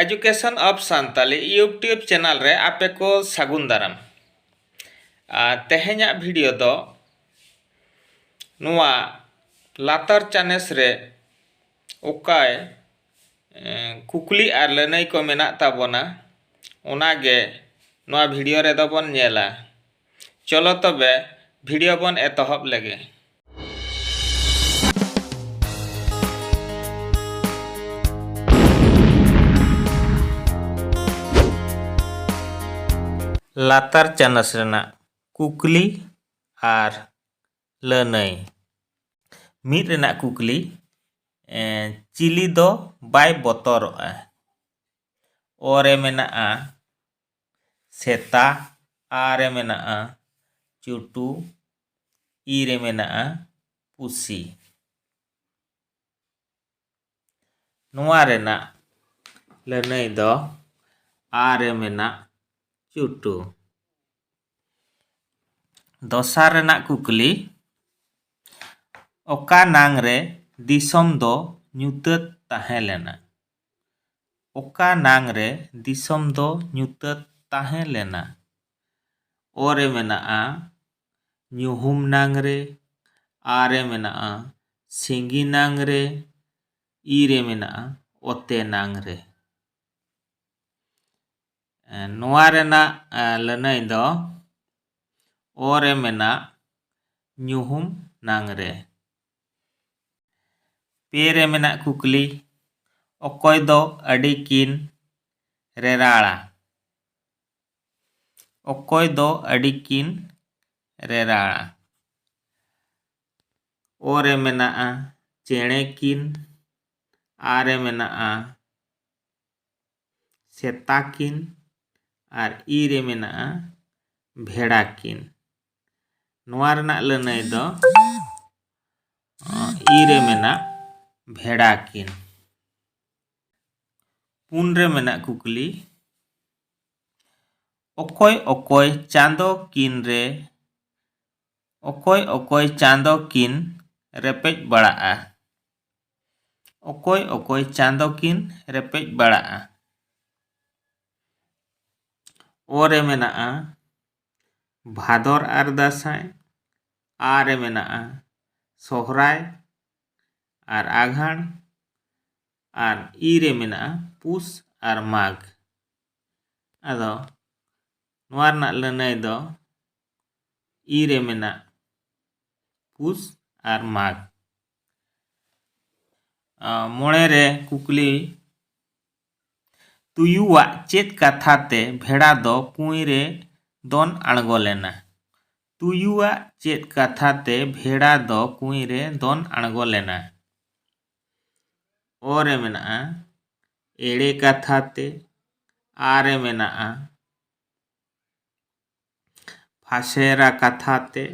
Education of Santali YouTube channel ᱨᱮ ᱟᱯᱮ ᱠᱚ ᱥᱟᱹᱜᱩᱱ ᱫᱟᱨᱟᱢ ᱛᱮᱦᱮᱧᱟᱜ ᱵᱷᱤᱰᱤᱭᱳ ᱫᱚ ᱱᱚᱣᱟ ᱞᱟᱛᱟᱨ ᱪᱟᱱᱮᱥ ᱨᱮ ᱚᱠᱟᱭ ᱠᱩᱠᱞᱤ ᱟᱨ ᱞᱟᱹᱱᱟᱹᱭ ᱠᱚ ᱢᱮᱱᱟᱜ ᱛᱟᱵᱚᱱᱟ ᱚᱱᱟᱜᱮ ᱱᱚᱣᱟ ᱵᱷᱤᱰᱤᱭᱳ ᱨᱮᱫᱚ ᱵᱚᱱ ᱧᱮᱞᱟ ᱪᱚᱞᱚ ᱛᱚᱵᱮ ᱵᱷᱤᱰᱤᱭᱳ ᱵᱚᱱ ᱮᱛᱚᱦᱚᱵ ᱞᱮᱜᱮ ᱞᱟᱛᱟᱨ ᱪᱟᱱᱟᱪ ᱨᱮᱱᱟᱜ ᱠᱩᱠᱞᱤ ᱟᱨ ᱞᱟᱹᱱᱟᱹᱭ ᱢᱤᱫ ᱨᱮᱱᱟᱜ ᱠᱩᱠᱞᱤ ᱪᱤᱞᱤ ᱫᱚ ᱵᱟᱭ ᱵᱚᱛᱚᱨᱚᱜᱼᱟ ᱚᱨᱮ ᱢᱮᱱᱟᱜᱼᱟ ᱥᱮᱛᱟ ᱟ ᱨᱮ ᱢᱮᱱᱟᱜᱼᱟ ᱪᱩᱴᱩ ᱤ ᱨᱮ ᱢᱮᱱᱟᱜᱼᱟ ᱯᱩᱥᱤ ᱱᱚᱣᱟ ᱨᱮᱱᱟᱜ ᱞᱟᱹᱱᱟᱹᱭ ᱫᱚ ᱟ ᱨᱮ ᱢᱮᱱᱟᱜ ᱪᱩᱴᱩ ᱫᱚᱥᱟᱨ ᱨᱮᱱᱟᱜ ᱠᱩᱠᱞᱤ ᱚᱠᱟ ᱱᱟᱝ ᱨᱮ ᱫᱤᱥᱚᱢ ᱫᱚ ᱧᱩᱛᱟᱹᱛ ᱛᱟᱦᱮᱸ ᱞᱮᱱᱟ ᱚᱠᱟ ᱱᱟᱝ ᱨᱮ ᱫᱤᱥᱚᱢ ᱫᱚ ᱧᱩᱛᱟᱹᱛ ᱛᱟᱦᱮᱸ ᱞᱮᱱᱟ᱾ ᱚ ᱨᱮ ᱢᱮᱱᱟᱜᱼᱟ ᱧᱩᱦᱩᱢ ᱱᱟᱝ ᱨᱮ, ᱟ ᱨᱮ ᱢᱮᱱᱟᱜᱼᱟ ᱥᱤᱸᱜᱤ ᱱᱟᱝ ᱨᱮ, ᱤ ᱨᱮ ᱢᱮᱱᱟᱜᱼᱟ ᱚᱛᱮ ᱱᱟᱝ ᱨᱮ᱾ ᱱᱚᱣᱟ ᱨᱮᱱᱟᱜ ᱞᱟᱹᱱᱟᱹᱭ ᱫᱚ ᱚ ᱨᱮ ᱢᱮᱱᱟᱜ ᱧᱩᱦᱩᱢ ᱱᱟᱝ ᱨᱮ᱾ ᱯᱮ ᱨᱮ ᱢᱮᱱᱟᱜ ᱠᱩᱠᱞᱤ ᱚᱠᱚᱭ ᱫᱚ ᱟᱹᱰᱤ ᱠᱤᱱ ᱨᱮᱨᱟᱲᱟ ᱚᱠᱚᱭ ᱫᱚ ᱟᱹᱰᱤ ᱠᱤᱱ ᱨᱮᱨᱟᱲᱟ ᱚ ᱨᱮ ᱢᱮᱱᱟᱜᱼᱟ ᱪᱮᱬᱮ ᱠᱤᱱ ᱟ ᱨᱮ ᱢᱮᱱᱟᱜᱼᱟ ᱥᱮᱛᱟ ᱠᱤᱱ ᱟᱨ ᱤ ᱨᱮ ᱢᱮᱱᱟᱜᱼᱟ ᱵᱷᱮᱲᱟ ᱠᱤᱱ ᱱᱚᱣᱟ ᱨᱮᱱᱟᱜ ᱞᱟᱹᱱᱟᱹᱭ ᱫᱚ ᱤ ᱨᱮ ᱢᱮᱱᱟᱜ ᱵᱷᱮᱲᱟ ᱠᱤᱱ ᱯᱩᱱ ᱨᱮ ᱢᱮᱱᱟᱜ ᱠᱩᱠᱞᱤ ᱚᱠᱚᱭ ᱚᱠᱚᱭ ᱪᱟᱸᱫᱚ ᱠᱤᱱ ᱨᱮ ᱚᱠᱚᱭ ᱚᱠᱚᱭ ᱪᱟᱸᱫᱚ ᱠᱤᱱ ᱨᱮᱯᱮᱡ ᱵᱟᱲᱟᱜᱼᱟ ᱚᱠᱚᱭ ᱚᱠᱚᱭ ᱪᱟᱸᱫᱚ ᱠᱤᱱ ᱨᱮᱯᱮᱡ ᱵᱟᱲᱟᱜᱼᱟ ᱚ ᱨᱮ ᱢᱮᱱᱟᱜᱼᱟ ᱵᱷᱟᱫᱚᱨ ᱟᱨ ᱫᱟᱸᱥᱟᱭ ᱟᱜ ᱨᱮ ᱢᱮᱱᱟᱜᱼᱟ ᱥᱚᱦᱚᱨᱟᱭ ᱟᱨ ᱟᱜᱷᱟᱬ ᱟᱨ ᱤ ᱨᱮ ᱢᱮᱱᱟᱜᱼᱟ ᱯᱩᱥ ᱟᱨ ᱢᱟᱜᱽ ᱟᱫᱚ ᱱᱚᱣᱟ ᱨᱮᱱᱟᱜ ᱞᱟᱹᱱᱟᱹᱭ ᱫᱚ ᱤ ᱨᱮ ᱢᱮᱱᱟᱜ ᱯᱩᱥ ᱟᱨ ᱢᱟᱜᱽ ᱢᱚᱬᱮ ᱨᱮ ᱠᱩᱠᱞᱤ ᱛᱩᱭᱩᱣᱟᱜ ᱪᱮᱫ ᱠᱟᱛᱷᱟ ᱛᱮ ᱵᱷᱮᱲᱟ ᱫᱚ ᱠᱩᱸᱭ ᱨᱮ ᱫᱚᱱ ᱟᱬᱜᱚ ᱞᱮᱱᱟ? ᱛᱩᱭᱩᱣᱟᱜ ᱪᱮᱫ ᱠᱟᱛᱷᱟ ᱛᱮ ᱵᱷᱮᱲᱟ ᱫᱚ ᱠᱩᱸᱭ ᱨᱮ ᱫᱚᱱ ᱟᱬᱜᱚ ᱞᱮᱱᱟ? ᱚ ᱨᱮ ᱢᱮᱱᱟᱜᱼᱟ ᱮᱲᱮ ᱠᱟᱛᱷᱟ ᱛᱮ, ᱟ ᱨᱮ ᱢᱮᱱᱟᱜᱼᱟ ᱯᱷᱟᱥᱮᱨᱟ ᱠᱟᱛᱷᱟ ᱛᱮ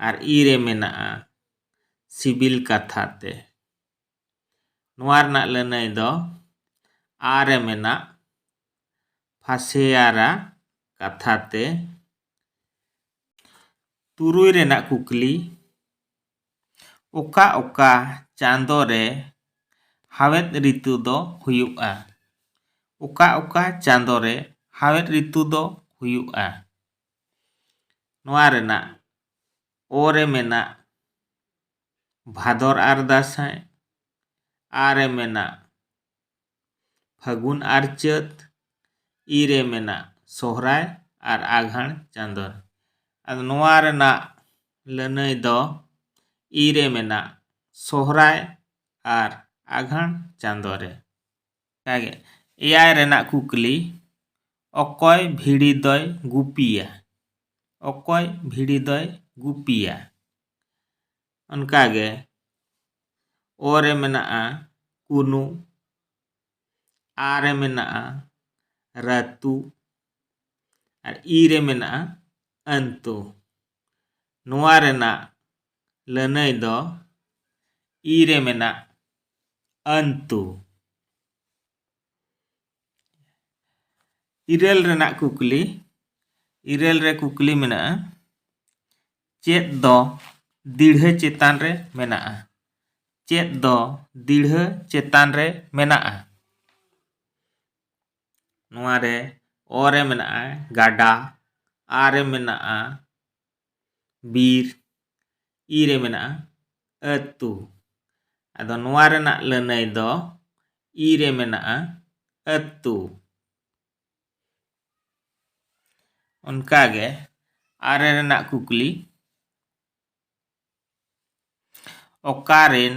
ᱟᱨ ᱤ ᱨᱮ ᱢᱮᱱᱟᱜᱼᱟ ᱥᱤᱵᱤᱞ ᱠᱟᱛᱷᱟ ᱛᱮ᱾ ᱱᱚᱣᱟ ᱨᱮᱱᱟᱜ ᱞᱟᱹᱱᱟᱹᱭ ᱫᱚ ᱟ ᱨᱮ ᱢᱮᱱᱟᱜ ᱯᱷᱟᱥᱮᱭᱟᱨᱟ ᱠᱟᱛᱷᱟ ᱛᱮ ᱛᱩᱨᱩᱭ ᱨᱮᱱᱟᱜ ᱠᱩᱠᱞᱤ ᱚᱠᱟ ᱚᱠᱟ ᱪᱟᱸᱫᱚ ᱨᱮ ᱦᱟᱣᱮᱫ ᱨᱤᱛᱩ ᱫᱚ ᱦᱩᱭᱩᱜᱼᱟ ᱚᱠᱟ ᱚᱠᱟ ᱪᱟᱸᱫᱚ ᱨᱮ ᱦᱟᱣᱮᱫ ᱨᱤᱛᱩ ᱫᱚ ᱦᱩᱭᱩᱜᱼᱟ ᱱᱚᱣᱟ ᱨᱮᱱᱟᱜ ᱚ ᱨᱮ ᱢᱮᱱᱟᱜ ᱵᱷᱟᱫᱚᱨ ᱟᱨ ᱫᱟᱸᱥᱟᱭ ᱟ ᱨᱮ ᱢᱮᱱᱟᱜ ᱯᱷᱟᱹᱜᱩᱱ ᱟᱨ ᱪᱟᱹᱛ ᱤ ᱨᱮ ᱢᱮᱱᱟᱜ ᱥᱚᱦᱨᱟᱭ ᱟᱨ ᱟᱜᱷᱟᱬ ᱪᱟᱸᱫᱚ ᱨᱮ ᱟᱫᱚ ᱱᱚᱣᱟ ᱨᱮᱱᱟᱜ ᱞᱟᱹᱱᱟᱹᱭ ᱫᱚ ᱤ ᱨᱮ ᱢᱮᱱᱟᱜ ᱥᱚᱦᱨᱟᱭ ᱟᱨ ᱟᱜᱷᱟᱬ ᱪᱟᱸᱫᱚ ᱨᱮ ᱚᱱᱠᱟᱜᱮ ᱮᱭᱟᱭ ᱨᱮᱱᱟᱜ ᱠᱩᱠᱞᱤ ᱚᱠᱚᱭ ᱵᱷᱤᱲᱤ ᱫᱚᱭ ᱜᱩᱯᱤᱭᱟ ᱚᱠᱚᱭ ᱵᱷᱤᱲᱤ ᱫᱚᱭ ᱜᱩᱯᱤᱭᱟ ᱚᱱᱠᱟᱜᱮ ᱚ ᱨᱮ ᱢᱮᱱᱟᱜᱼᱟ ᱠᱩᱱᱩ ᱟ ᱨᱮ ᱢᱮᱱᱟᱜᱼᱟ ᱨᱟᱹᱛᱩ ᱟᱨ ᱤ ᱨᱮ ᱢᱮᱱᱟᱜᱼᱟ ᱟᱹᱱᱛᱩ ᱱᱚᱣᱟ ᱨᱮᱱᱟᱜ ᱞᱟᱹᱱᱟᱹᱭ ᱫᱚ ᱤ ᱨᱮ ᱢᱮᱱᱟᱜ ᱟᱹᱱᱛᱩ ᱤᱨᱟᱹᱞ ᱨᱮᱱᱟᱜ ᱠᱩᱠᱞᱤ ᱤᱨᱟᱹᱞ ᱨᱮ ᱠᱩᱠᱞᱤ ᱢᱮᱱᱟᱜᱼᱟ ᱪᱮᱫ ᱫᱚ ᱫᱤᱲᱦᱟᱹ ᱪᱮᱛᱟᱱ ᱨᱮ ᱢᱮᱱᱟᱜᱼᱟ ᱪᱮᱫ ᱫᱚ ᱫᱤᱲᱦᱟᱹ ᱪᱮᱛᱟᱱ ᱨᱮ ᱢᱮᱱᱟᱜᱼᱟ ᱱᱚᱣᱟ ᱨᱮ ᱚ ᱨᱮ ᱢᱮᱱᱟᱜᱼᱟ ᱜᱟᱰᱟ ᱟ ᱨᱮ ᱢᱮᱱᱟᱜᱼᱟ ᱵᱤᱨ ᱤ ᱨᱮ ᱢᱮᱱᱟᱜᱼᱟ ᱟᱹᱛᱩ ᱟᱫᱚ ᱱᱚᱣᱟ ᱨᱮᱱᱟᱜ ᱞᱟᱹᱱᱟᱹᱭ ᱫᱚ ᱤ ᱨᱮ ᱢᱮᱱᱟᱜᱼᱟ ᱟᱹᱛᱩ ᱚᱱᱠᱟᱜᱮ ᱟᱨᱮ ᱨᱮᱱᱟᱜ ᱠᱩᱠᱞᱤ ᱚᱠᱟᱨᱮᱱ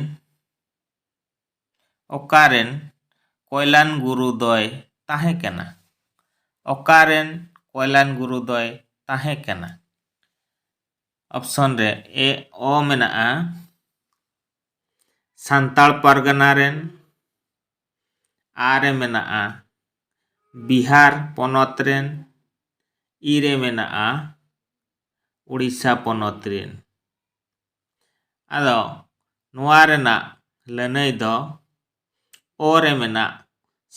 ᱚᱠᱟᱨᱮᱱ ᱠᱚᱭᱞᱟᱱ ᱜᱩᱨᱩ ᱫᱚᱭ ᱛᱟᱦᱮᱸ ᱠᱟᱱᱟ? ᱚᱠᱟᱨᱮᱱ ᱠᱚᱭᱞᱟᱱ ᱜᱩᱨᱩ ᱫᱚᱭ ᱛᱟᱦᱮᱸ ᱠᱟᱱᱟ? ᱚᱯᱥᱚᱱ ᱨᱮ ᱮ ᱚ ᱢᱮᱱᱟᱜᱼᱟ ᱥᱟᱱᱛᱟᱲ ᱯᱟᱨᱜᱟᱱᱟ ᱨᱮᱱ, ᱟ ᱨᱮ ᱢᱮᱱᱟᱜᱼᱟ ᱵᱤᱦᱟᱨ ᱯᱚᱱᱚᱛ ᱨᱮᱱ, ᱤ ᱨᱮ ᱢᱮᱱᱟᱜᱼᱟ ᱳᱰᱤᱥᱟ ᱯᱚᱱᱚᱛ ᱨᱮᱱ᱾ ᱟᱫᱚ ᱱᱚᱣᱟ ᱨᱮᱱᱟᱜ ᱞᱟᱹᱱᱟᱹᱭ ᱫᱚ ᱚ ᱨᱮ ᱢᱮᱱᱟᱜ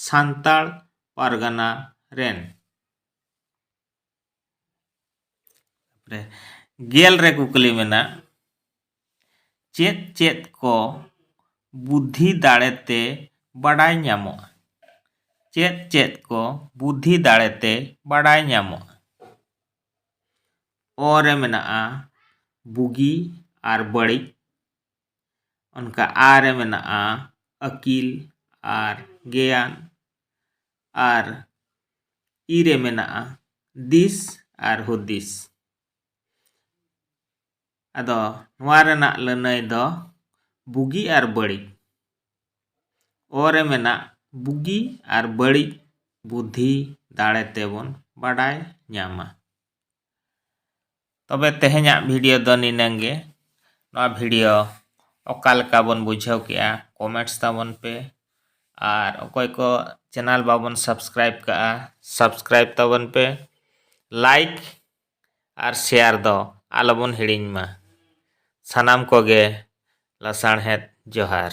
ᱥᱟᱱᱛᱟᱲ ᱯᱟᱨᱜᱟᱱᱟ ᱨᱮᱱ ᱨᱮ ᱜᱮᱞ ᱨᱮ ᱠᱩᱠᱞᱤ ᱢᱮᱱᱟᱜ ᱪᱮᱫ ᱪᱮᱫ ᱠᱚ ᱵᱩᱫᱽᱫᱷᱤ ᱫᱟᱲᱮᱛᱮ ᱵᱟᱰᱟᱭ ᱧᱟᱢᱚᱜᱼᱟ ᱪᱮᱫ ᱪᱮᱫ ᱠᱚ ᱵᱩᱫᱽᱫᱷᱤ ᱫᱟᱲᱮᱛᱮ ᱵᱟᱰᱟᱭ ᱧᱟᱢᱚᱜᱼᱟ ᱚ ᱨᱮ ᱢᱮᱱᱟᱜᱼᱟ ᱵᱩᱜᱤ ᱟᱨ ᱵᱟᱹᱲᱤᱡ ᱚᱱᱠᱟ ᱟ ᱨᱮ ᱢᱮᱱᱟᱜᱼᱟ ᱟᱹᱠᱤᱞ ᱟᱨ ᱜᱮᱭᱟᱱ ᱟᱨ ᱤ ᱨᱮ ᱢᱮᱱᱟᱜᱼᱟ ᱫᱤᱥ ᱟᱨ ᱦᱩᱫᱤᱥ ᱟᱫᱚ ᱱᱚᱣᱟ ᱨᱮᱱᱟᱜ ᱞᱟᱹᱱᱟᱹᱭ ᱫᱚ ᱵᱩᱜᱤ ᱟᱨ ᱵᱟᱹᱲᱤᱡ ᱚ ᱨᱮ ᱢᱮᱱᱟᱜ ᱵᱩᱜᱤ ᱟᱨ ᱵᱟᱹᱲᱤᱡ ᱵᱩᱫᱷᱤ ᱫᱟᱲᱮ ᱛᱮᱵᱚᱱ ᱵᱟᱰᱟᱭ ᱧᱟᱢᱟ ᱛᱚᱵᱮ ᱛᱮᱦᱮᱧᱟᱜ ᱵᱷᱤᱰᱤᱭᱳ ᱫᱚ ᱱᱤᱱᱟᱹᱝ ᱜᱮ ᱱᱚᱣᱟ ᱵᱷᱤᱰᱤᱭᱳ ᱚᱠᱟ ᱞᱮᱠᱟ ᱵᱚᱱ ᱵᱩᱡᱷᱟᱹᱣ ᱠᱮᱜᱼᱟ ᱠᱚᱢᱮᱱᱴᱥ ᱛᱟᱵᱚᱱ ᱯᱮ ᱟᱨ ᱚᱠᱚᱭ ᱠᱚ ᱪᱮᱱᱮᱞ ᱵᱟᱵᱚᱱ ᱥᱟᱵᱥᱠᱨᱟᱭᱤᱵ ᱠᱟᱜᱼᱟ ᱥᱟᱵᱥᱠᱨᱟᱭᱤᱵ ᱛᱟᱵᱚᱱ ᱯᱮ ᱞᱟᱭᱤᱠ ᱟᱨ ᱥᱮᱭᱟᱨ ᱫᱚ ᱟᱞᱚ ᱵᱚᱱ ᱦᱤᱲᱤᱧ ᱢᱟ᱾ ᱥᱟᱱᱟᱢ ᱠᱚᱜᱮ ᱞᱟᱥᱟᱬᱦᱮᱫ ᱡᱚᱦᱟᱨ᱾